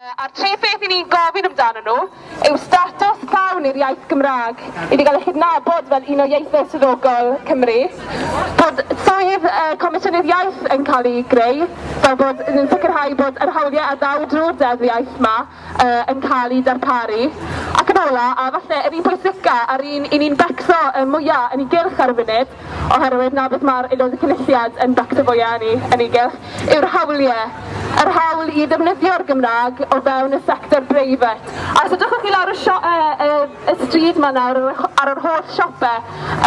A'r tri pheth i ni'n gofyn amdanyn nhw yw statws llawn i'r iaith Gymraeg, iddi gael ei chydnabod fel un o ieithoedd swyddogol Cymru, bod swydd Comisiynydd Iaith yn cael ei greu, fel bod yn sicrhau bod yr hawliau a ddaw drwy'r Deddf Iaith yma yn cael eu darparu, ac yn ola', a falle yr un pwysica' a'r un i ni'n becso mwya' yn ei gylch ar y funud, oherwydd 'na beth mae'r Aelod y Cynulliad yn bactifo i eni yn ei gylch, yw'r hawlie, yr hawl i ddefnyddio'r Gymraeg o fewn y sector breifat. A os edrychwch chi lawr y sio- yy yy y stryd 'ma nawr ar yr ar yr holl siope,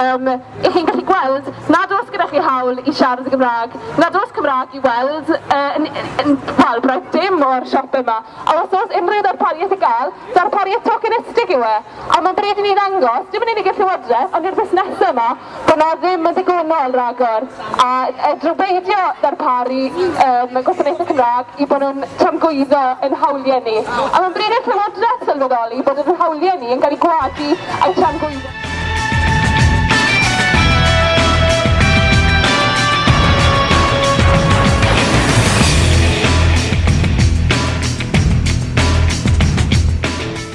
yym, 'ych chi'n gallu gweld nad oes gyda chi hawl i siarad y Gymraeg, nad oes Cymraeg i weld yy yn yn wel, braidd dim o'r siope 'ma. A os oes unrhyw ddarpariaeth i gael, darpariaeth tokenistig yw e. A mae'n bryd i ni ddangos, dim yn unig i'r Llywodraeth, ond i'r busnesau yma, bod 'na ddim yn ddigonol ragor, a fedrwn beidio darparu um, gwasanaethau Cymraeg i bod nhw'n tramgwyddo ein hawliau ni. A mae'n bryd i'r Llywodraeth sylweddoli bod ein hawliau ni yn cael eu gwadu a'u tramgwyddo.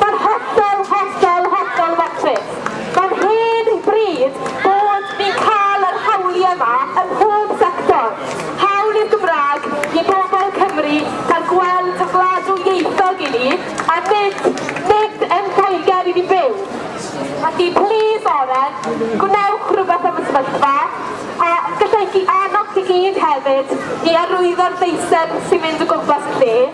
Mae'n hollol, hollol, hollol fecryll. Mae'n hen bryd bod ni'n cael yr hawliau yma ym mhob sector. Hawl i'r Gymraeg i bobl Cymru cael gweld y gwlad ddwyieithog i ni, a nid, nid yn Lloegr i ni byw. Felly, plis Oren, gwnewch rhywbeth am y sefyllfa, a gallai annog chi gyd hefyd i arwyddo'r deisen sy'n mynd o gwmpas y lle.